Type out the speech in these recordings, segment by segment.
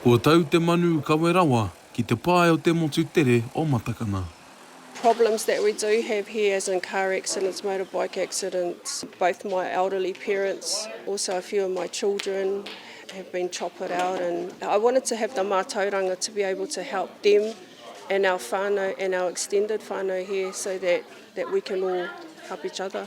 Kua tau te manu kawe rawa ki te pae o te motu tere o Matakana. problems that we do have here as in car accidents, motorbike accidents, both my elderly parents, also a few of my children have been choppered out and I wanted to have the mātauranga to be able to help them and our whānau and our extended whānau here so that we can all help each other.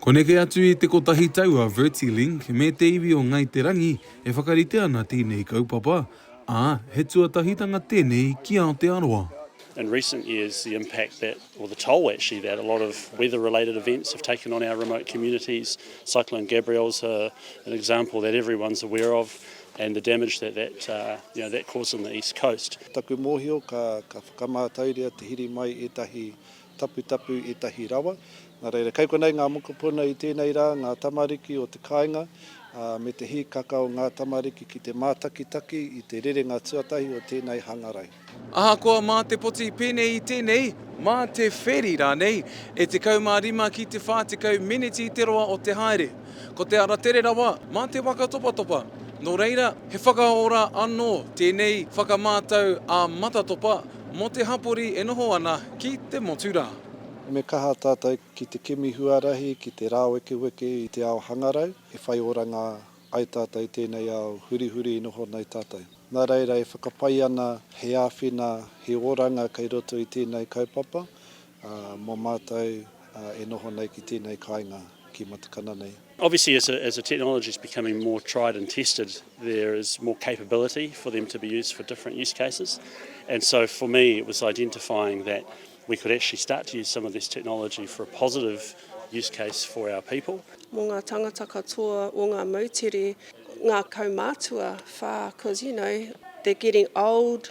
Ko neke atu i te kotahi tau a Vertilink me te iwi o Ngāi Te Rangi e whakarite ana tēnei kaupapa, ā, he tuatahitanga tēnei ki Aotearoa. In recent years the impact that, or the toll actually that a lot of weather related events have taken on our remote communities, Cyclone Gabrielle is an example that everyone's aware of and the damage that that, you know, that caused in the east coast. Ko taku mōhio ka whakamātauria te hiri mai ētahi taputapu ētahi rawa. Nā reira, kei konei ngā mokopuna i tēnei rā, ngā tamariki o te kāinga, ā, me te hīkaka o ngā tamariki ki te mātakitaki i te rerenga tuatahi o tēnei hangarau. Ahakoa mā te poti pēnei i tēnei, mā te wheri rānei, e 15 ki te 40 meneti te roa o te haere. Ko te ara tere rawa, mā te waka topatopa. Nō reira, he whakaora anō tēnei whakamātau ā-matatopa, Mō te hapori e noho ana ki te motu rā. Me kaha tātou ki te kimi huarahi ki te rāwekeweke i te ao hangarau e whai oranga ai tātou i tēnei ao hurihuri i noho nei tātou. Nā reira e whakapai ana he āwhina, he oranga kei roto i tēnei kaupapa, Ā, mō mātou e noho nei ki tēnei kāinga, ki Matakana nei. Obviously as a as a technology is becoming more tried and tested there is more capability for them to be used for different use cases and so for me it was identifying that we could actually start to use some of this technology for a positive use case for our people. Mō ngā tangata katoa o ngā moutere, ngā kaumātua whā, cause you know they're getting old,